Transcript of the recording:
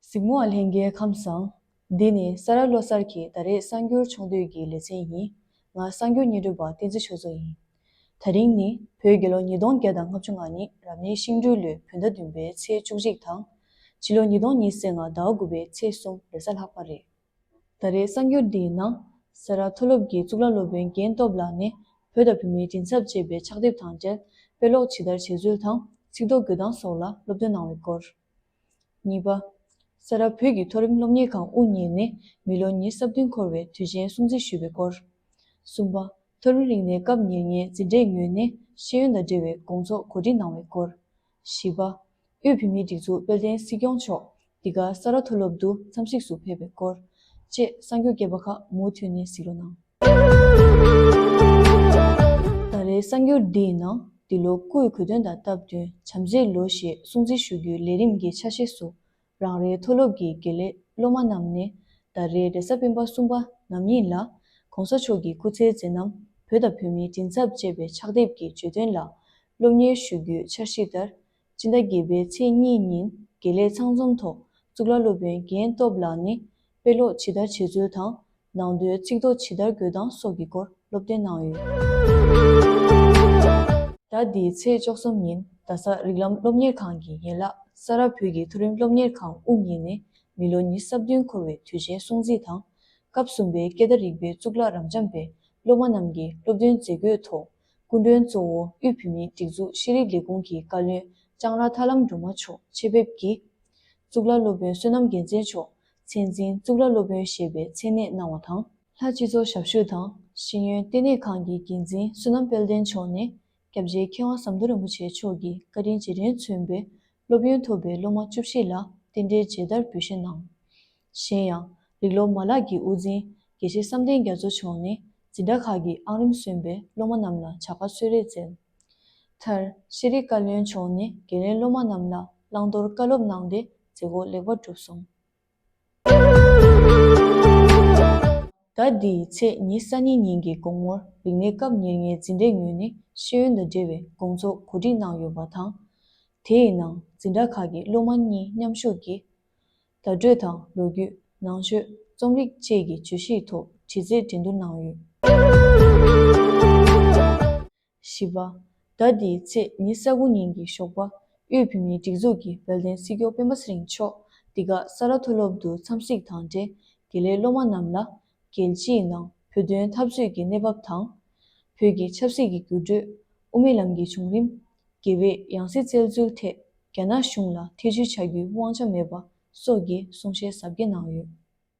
གཟིགས་མོ་བ་ལྷན་རྒྱལ་ཁམས་བཟང། འདི་ནི་ས་རཱ་བློ་གསར་གྱི་ད་རེས་གསར་འགྱུར་ཆུང་བསྡུས་ཀྱི་ལེ་ཚན་ཡིན། ང་གསར་འགྱུར་སྙན་སྒྲོན་པ་བསྟན་འཛིན་ཆོས་མཚོ་ཡིན། ད་རིང་ནི་བོད་རྒྱལ་ལོ་ཉིས་སྟོང་བརྒྱ་དང་ལྔ་བཅུ་ལྔ་ནི་རབ་གནས་ཤིང་སྦྲུལ་ལོའི་བོད་ཟླ་བདུན་པའི་ཚེས་བཅུ་གཅིག་དང། ཕྱི་ལོ་ཉིས་སྟོང་ཉིས་སེ་ལྔ་ཟླ་དགུ་པའི་ཚེས་གསུམ་རེ་ས་ལྷག་པ་རེད། ད་རེའི་གསར་འགྱུར་འདིའི་ནང། སེ་ར་མཐོ་སློབ་ཀྱི་གཙུག་ལག་སློབ་དཔོན་རྒན་སྟོབས་ལགས་ནས་བོད་དང་བོད་མིའི་མགྲིན་ཚབ་ཅེས་པའི་ཕྱག་དེབ་དང་འབྲེལ་དཔེ་ཀློག་ཇི་ལྟར་བྱེད་ཚུལ་དང་ཚིག་རྡོག་འགུལ་སྟངས་སོགས་ལ་སློབ་སྟོན་གནང་བའི་སྐོར། གཉིས་པ། སེ་ར་བོད་ཀྱི་མཐོ་རིམ་སློབ་གཉེར་ཁང་དབུ་བརྙེས་ནས་མི་ལོ་ཉེར་གསབ་བདུན་འཁོར་བའི་དུས་ཆེན་སྲུང་བརྩི་ཞུས་པའི་སྐོར། གསུམ་པ། མཐོ་རིམ་རིག་གནས་སྐབས་ཉེར་ལྔའི་འཛིན་གྲྭའི་ངོས་ནས་ཤེས་ཡོན་དང་འབྲེལ་བའི་དགོང་ཚོགས་གོ་སྒྲིག་གནང་བའི་སྐོར། བཞི་པ། དབུས་བོད་མིའི་སྒྲིག་འཛུགས་དཔལ་ལྡན་སྲིད་སྐྱོང་མཆོག་འདི་ག་ས་རཱ་མཐོ་སློབ་ཏུ་འཚམས་གཟིགས་སུ་ཕེབས་པའི་སྐོར་བཅས་གསར་འགྱུར་རྒྱས་པ་ཁག་མུ་མཐུད་ནས་གཟིགས་རོགས་གནང། ད་རེའི་གསར་འགྱུར་འདི་ཡི་ནང་འདི་ལོ་སྐུའི་གོ་སྟོན་དང་སྟབས་བསྟུན་བྱམས་བརྩེའི་ལོ་ཞེས་སྲུང་བརྩི་ཞུ་རྒྱུའི་ལས་རིམ་གྱི་ཆ་ཤས་སུ་རང་རེའི་མཐོ་སློབ་ཀྱི་དགེ་ལས་སློབ་མ་རྣམས་ནི་ད་རེས་རེས་གཟའ་སྤེན་པ་གསུམ་པ་ནམ་ཡིན་ལ། གོང་ས་མཆོག་གི་སྐུ་ཚེའི་མཛད་རྣམ་བོད་དང་བོད་མིའི་མགྲིན་ཚབ་བཅས་པའི་ཕྱག་དེབ་ཀྱི་བརྗོད་དོན་ལ་སློབ་གཉེར་ཞུ་རྒྱུའི་འཆར་གཞི་ལྟར། སྤྱི་ཟླ་བརྒྱད་པའི་ཚེས་གཉིས་ཉིན་དགེ་ལས་ཚང་འཛོམས་ཐོག་གཙུག་ལག་སློབ་དཔོན་རྒན་སྟོབས་ལགས་ནི་དཔེ་ཀློག་ཇི་ལྟར་བྱེད་ཚུལ་དང་ནང་དོན་གཅིག་རྡོག་ཇི་ལྟར་འགོད་སྟངས་སོགས་ཀྱི་སྐོར་སློབ་སྟོན་གནང་ཡོད། ཟླ་འདིའི་ཚེས་བཅོ་གསུམ་ཉིན་རྡ་ས་རིགས་ལམ་སློབ་གཉེར་ཁང་གི་ཡན་ལག་ས་རཱ་བོད་ཀྱི་མཐོ་རིམ་སློབ་གཉེར་ཁང་དབུ་བརྙེས་ནས་མི་ལོ་ཉི་ས་བདུན་འཁོར་བའི་དུས་ཆེན་སྲུང་བརྩི་དང། སྐབས་གསུམ་པའི་སྐད་བརྡ་རིག་པའི་གཙུག་ལག་རབ་འབྱམས་པའི་སློབ་མ་རྣམས་ཀྱི་སློབ་སྟོན་མཛད་སྒོའི་ཐོག་སྐུ་མགྲོན་གཙོ་བོ་དབུས་བོད་མིའི་སྒྲིག་འཛུགས་ཤེས་རིག་ལས་ཁུངས་ཀྱི་བཀའ་བློན་ལྕང་ར་ཐར་ལམ་སྒྲོལ་མ་མཆོག་ཆེད་ཕེབས་ཀྱིས། གཙུག་ལག་སློབ་དཔོན་བསོད་ནམས་རྒྱལ་མཚན་མཆོག་མཚན་འཛིན་གཙུག་ལག་སློབ་དཔོན་ཞེས་པའི་མཚན་གནས་གནང་བ་དང། ལྷ་སྤྱི་ཚོགས་ཞབས་ཞུ་དང་ཤེས་ཡོན་ལྟེ་གནས་ཁང་གི་འགན་འཛིན་བསོད་ནམས་དཔལ་ལྡན་མཆོག་ནས་སྐྱབས་རྗེ་མཁས་དབང་ཟམ་གདོང་རིན་པོ་ཆེ་མཆོག་གི་བཀའ་དྲིན་རྗེས་དྲན་མཚོན་པའི་སློབ་ཡོན་ཐོབ་པའི་སློབ་མ་བཅུ་བཞི་ལ་རྟེན་འབྲེལ་མཇལ་དར་འབུལ་བཞེས་གནང། གཞན་ཡང། རིག་སློབ་མ་ལག་གི་དབུ་འཛིན་དགེ་བཤེས་བསམ་གཏན་རྒྱ་མཚོ་མཆོག་ནས་འཛིན་གྲྭ་ཁག་གི་ཨང་རིམ་སོན་པའི་སློབ་མ་རྣམས་ལ་བྱ་དགའ་གསོལ་རས་བསྩལ། མཐར། ཤེས་རིག་བཀའ་བློན་མཆོག་ནས་དགེ་ལས་སློབ་མ་རྣམས་ལ་བླང་དོར་བཀའ་སློབ་གནང་སྟེ་མཛད་སྒོ་ལེགས་པར་གྲུབ་སོང། ཟླ་འདིའི་ཚེས་ཉེར་གསར་ཉིན་ཉིན་གྱི་དགོང་མོར་རིག་གནས་སྐབས་ཉེར་ལྔའི་འཛིན་གྲྭའི་ངོས་ནས་ཤེས་ཡོན་དང་འབྲེལ་བའི་དགོང་ཚོགས་གོ་སྒྲིག་གནང་ཡོད་པ་དང། དེའི་ནང་འཛིན་གྲྭ་ཁག་གི་སློབ་མ་གཉིས་མཉམ་ཞུགས་ཀྱིས། བརྡ་སྤྲོད་དང་ལོ་རྒྱུས། ནང་ཆོས། རྩོམ་རིག་བཅས་ཀྱི་བརྗོད་གཞིའི་ཐོག་དྲི་རྩད་འགྲན་བསྡུར་གནང་ཡོད། བཞི་པ། ཟླ་འདིའི་ཚེས་ཉེར་གསལ་དགུན་ཉིན་གྱི་ཞོགས་པ་དབུས་བོད་མིའི་སྒྲིག་འཛུགས་ཀྱི་བལ་གདན་སྲིད་སྐྱོང་སྤེན་པ་ཚེ་རིང་མཆོག་འདི་ག་ས་རཱ་མཐོ་སློབ་ཏུ་འཚམས་གཟིགས་དང་འབྲེལ་དགེ་ལས་སློབ་མ་རྣམས་ལ། རྒྱལ་སྤྱིའི་ནང་བོད་དོན་འཐབ་རྩོད་ཀྱི་གནས་བབ་དང། བོད་ཀྱི་ཆབ་སྲིད་ཀྱི་འགྱུར་འགྲོས། དབུ་མའི་ལམ་གྱི་བྱུང་རིམ། དགེ་བས་ཡང་སྲིད་བཙལ་འཚོལ་ཐད་རྒྱ་ནག་གཞུང་ལ་ཐེ་བྱུས་བྱ་རྒྱུའི་དབང་ཆ་མེད་པ་སོགས་ཀྱི་གསུང་བཤད་ཟབ་རྒྱས་གནང་ཡོད།